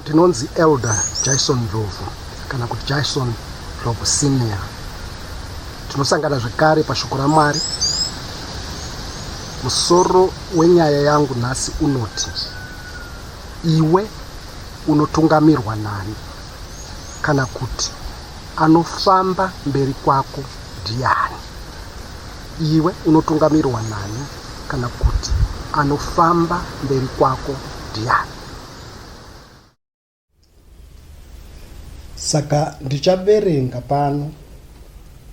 Ndinonzi Elder Jaison Ndlovu kana kuti Jaison Ndlovu Senior. Tinosangana zvekare pashoko raMwari. Musoro wenyaya yangu nhasi unoti iwe unotungamirwa nani kana kuti anofamba mberi kwako ndiani? Iwe unotungamirwa nani kana kuti anofamba mberi kwako ndiani? Saka ndichaverenga pano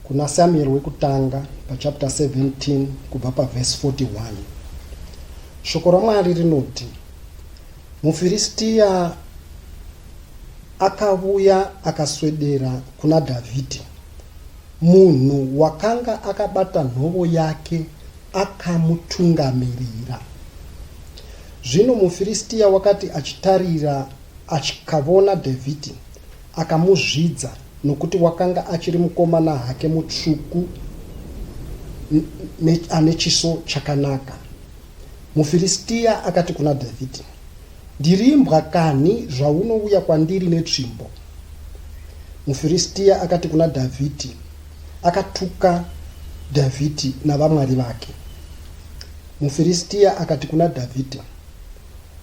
kuna Samueri wekutanga pachapter 17 kubva pavhesi 41. Shoko raMwari rinoti, muFiristiya akavuya akaswedera kuna Dhavhidhi Munhu wakanga akabata nhovo yake akamutungamirira. Zvino muFiristia wakati achitarira achikavona Dhavhidhi, akamuzvidza, nokuti wakanga achiri mukomana hake mutsvuku ane chiso chakanaka. MuFiristia akati kuna Dhavhidhi, Ndirimbwa kanhi zvaunouya kwandiri netsvimbo? MuFiristia akati kuna Dhavhidhi, akatuka Dhavhidhi navamwari vake. MuFiristia akati kuna Dhavhidhi,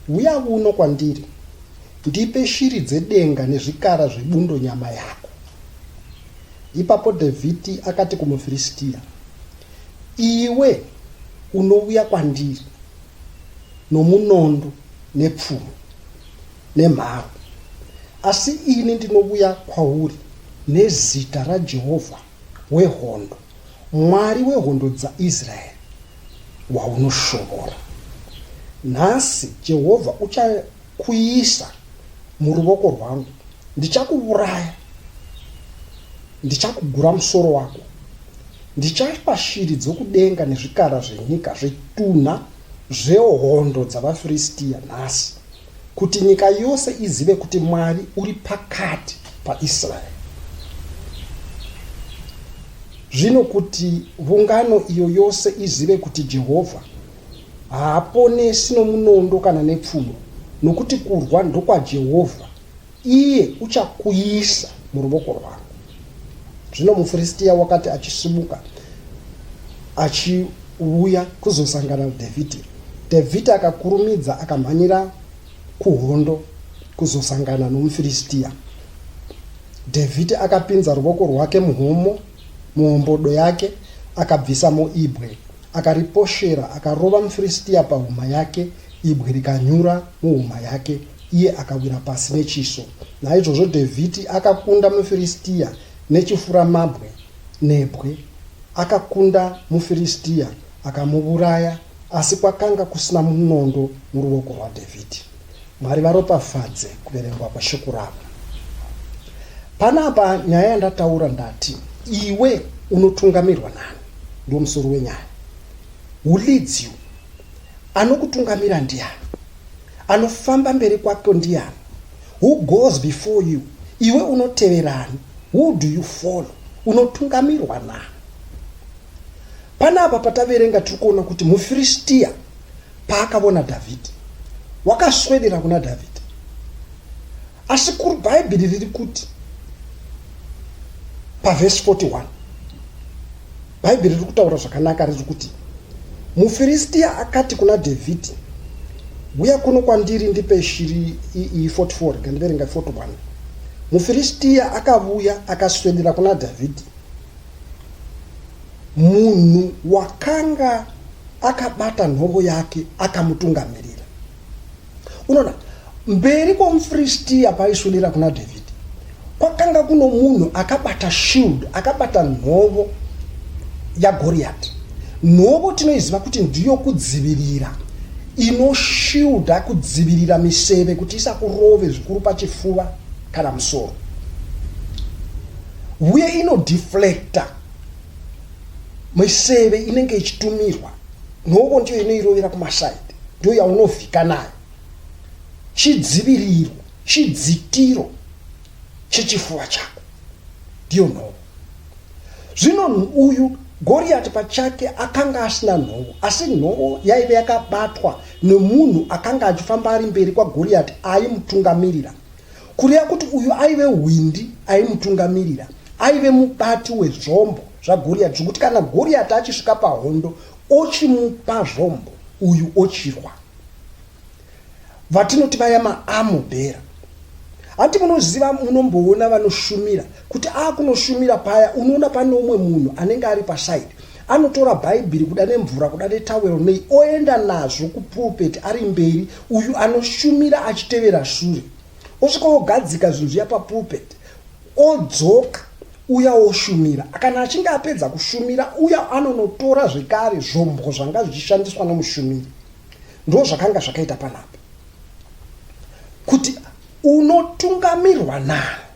Uya uno kwandiri, ndipe shiri dzedenga nezvikara zvebundo nyama yako. Ipapo Dhavhidhi akati kumuFiristia, Iwe unouya kwandiri nomunondo nepfumo nemharo, asi ini ndinovuya kwauri nezita raJehovha wehondo, Mwari wehondo dzaIsraeri, waunoshuvura. Nhasi Jehovha uchakuisa muruvoko rwangu, ndichakuvuraya, ndichakugura musoro wako. Ndichapa shiri dzokudenga nezvikara zvenyika zvitunha zvehondo dzavaFiristia nhasi, kuti nyika yose izive kuti Mwari uri pakati paIsraeri. Zvino kuti vungano iyo yose izive kuti Jehovha haaponesi nomunondo kana nepfumo, nokuti kurwa ndokwaJehovha, Iye uchakuisa muruvoko rwangu. Zvino muFiristia wakati achisimuka achiuya kuzosangana naDhavhidhi, Dhavhidhi akakurumidza akamhanyira kuhondo kuzosangana nomuFiristia. Dhavhidhi akapinza ruvoko rwake muhomo muhombodo yake akabvisamo ibwe akariposhera akarova muFiristia pahuma yake ibwe rikanyura muhuma yake iye akawira pasi nechiso naizvozvo dhavhidhi akakunda mufiristiya nechifuramabwe nebwe akakunda mufiristiya akamuvuraya asi kwakanga kusina munondo muruoko rwadhavhidhi mwari varopafadze kuverengwa kweshoko ravo panapa nyaya yandataura ndati iwe unotungamirwa nani ndo musoro wenyaya who leads you anokutungamira ndiani anofamba mberi kwako ndiani who goes before you iwe unoteverani who do you follow unotungamirwa na panapa pataverenga tiri kuona kuti mufiristiya paakavona dhavhidhi wakaswedera kuna dhavhidhi asi kuri bhaibheri riri kuti pavhesi 41 Bhaibheri riri kutaura zvakanaka riri kuti muFiristia akati kuna Dhavhidhi, huya kuno kwandiri ndipe shiri iyi 44 ngandiverenga 41 mufiristia akavuya akaswedera kuna dhavhidhi munhu wakanga akabata nhongo yake akamutungamirira unoona mberi kwomufiristiya paaiswedera kuna dhavhidhi kwakanga kuno munhu akabata shield akabata nhovo yagoriyati nhovo tinoiziva kuti ndiyo kudzivirira inoshiuda kudzivirira miseve kuti isakurove zvikuru pachifuva kana musoro uye inodeflecta miseve inenge ichitumirwa nhongo ndiyo inoirovera kumasaidi ndiyo yaunovhika nayo chidziviriro chidzitiro chechifuva chako ndiyo nhongo zvino uyu goriyati pachake akanga asina nhongo asi nhongo yaive yakabatwa nemunhu akanga achifamba ari mberi kwagoriyati aimutungamirira kureva kuti uyu aive hwindi aimutungamirira aive mubati wezvombo zvagoriyati zvekuti kana goriyati achisvika pahondo ochimupa zvombo uyu ochirwa vatinoti vaya maamubhera hanti munoziva munomboona vanoshumira kuti akunoshumira paya unoona pane umwe munhu anenge ari pasaidi Anotora Bhaibheri kuda nemvura kuda netawero nei oenda nazvo kupulpeti ari mberi uyu anoshumira achitevera shure. Osvika ogadzika zvinhu zviya papulpeti odzoka uya oshumira. Kana achinge apedza kushumira uya anonotora zvekare zvombo zvanga zvichishandiswa nomushumiri. Ndo zvakanga zvakaita panapa kuti unotungamirwa nani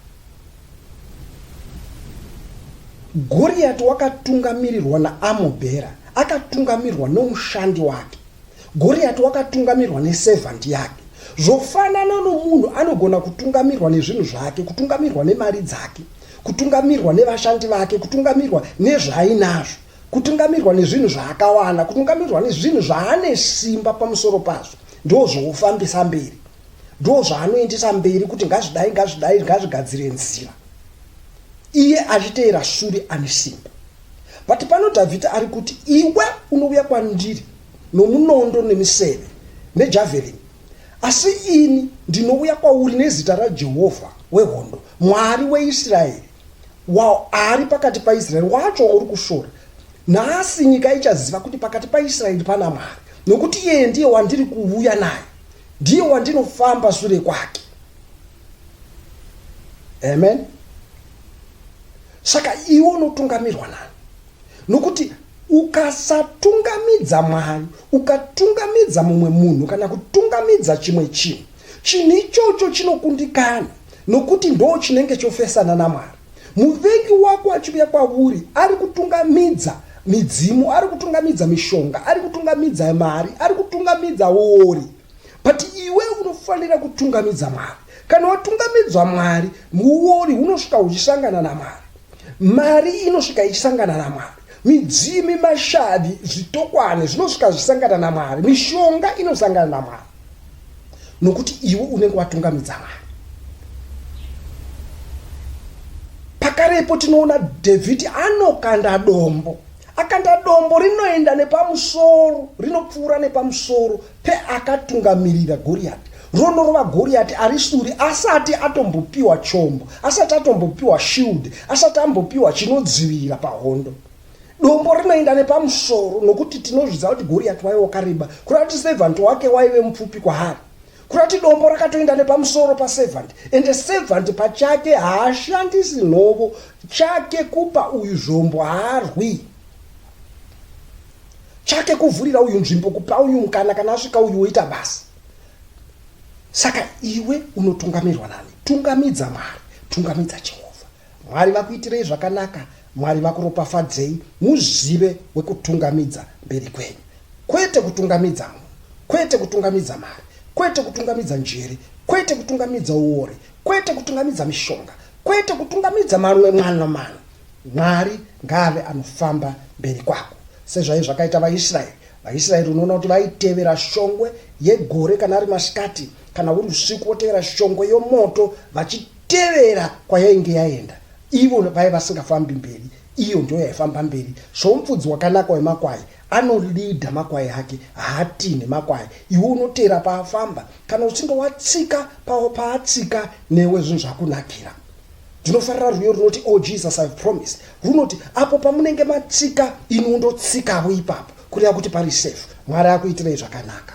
Goriati wakatungamirirwa naAmobhera, akatungamirwa nomushandi wake. Goriati wakatungamirwa neservant yake. Zvofanana nomunhu anogona kutungamirwa nezvinhu zvake, kutungamirwa nemari dzake, kutungamirwa nevashandi vake, kutungamirwa nezvaainazvo, kutungamirwa nezvinhu zvaakawana, kutungamirwa nezvinhu zvaane simba pamusoro pazvo, ndozvoufambisa mberi. ndo zvaanoendesa mberi kuti ngazvidai ngazvidai ngazvigadzire nzira iye achiteera shure ane simba but pano dhavhidha ari kuti iwe unouya kwandiri nomunondo nemiseve nejavelin asi ini ndinouya kwauri nezita rajehovha wehondo mwari weisraeri waari pakati paisraeri wacho wauri kushora nhasi nyika ichaziva kuti pakati paisraeri pana mwari nokuti iyeye ndiye wandiri kuuya naye ndiye wandinofamba sure kwake amen saka iwe unotungamirwa nani nokuti ukasatungamidza mwari ukatungamidza mumwe munhu kana kutungamidza chimwe chinhu chinhu ichocho chinokundikana nokuti ndo chinenge chofesana namwari Muvengi wako achiuya kwavuri ari kutungamidza midzimu, ari kutungamidza mishonga, ari kutungamidza mari, ari kutungamidza wori. But iwe unofanira kutungamidza Mwari. Kana watungamidzwa Mwari, muwori unosvika uchisangana naMwari. Mari inosvika ichisangana naMwari. Midzimi, mashavi, zvitokwane zvinosvika zvisangana naMwari. Mishonga inosangana naMwari nokuti iwe unenge watungamidza Mwari. Pakarepo tinoona Dhavhidhi anokanda dombo akanda dombo rinoenda nepamusoro rinopfuura nepamusoro Peakatungamirira Goriyati, ronorova Goriyati ari sure asati atombopiwa chombo, asati atombopiwa shield, asati ambopiwa chinodzivirira pahondo. Dombo rinoenda nepamusoro nokuti tinozvidza kuti Goriyati waive wakareba, kureva kuti servant wake waive mupfupi kwaari. Kureva kuti dombo rakatoenda nepamusoro paservant and servant pachake haashandisi nhovo chake kupa uyu zvombo haarwi. chake kuvhurira uyu nzvimbo kupa uyu mukana kana asvika uyu woita basa saka iwe unotungamirwa nani tungamidza mwari tungamidza jehovha mwari vakuitirei zvakanaka mwari vakuropafadzei muzive wekutungamidza mberi kwenyu kwete kutungamidza munhu kwete kutungamidza mari kwete kutungamidza njere kwete kutungamidza uore kwete kutungamidza mishonga kwete kutungamidza mamwe mwana mwana Mwari ngaave anofamba mberi kwako. Sezvaive zvakaita vaIsraeri, vaIsraeri unoona kuti vaitevera shongwe yegore kana ari masikati kana uri usiku votevera shongwe yomoto vachitevera kwayainge yaenda. Ivo vaive vasingafambi mberi, iyo ndiyo yaifamba mberi. Somufudzi wakanaka wemakwai anolidha makwai ake, haatinhi makwai. Iwe unoteera paafamba. Kana uchinge watsika paatsika newe zvinhu zvakunakira. ndinofarira rwiyo runoti o oh, jesus ive promised runoti apo pamunenge matsika iniwo ndotsikawo ipapo kureva kuti pari safe mwari akuitirei zvakanaka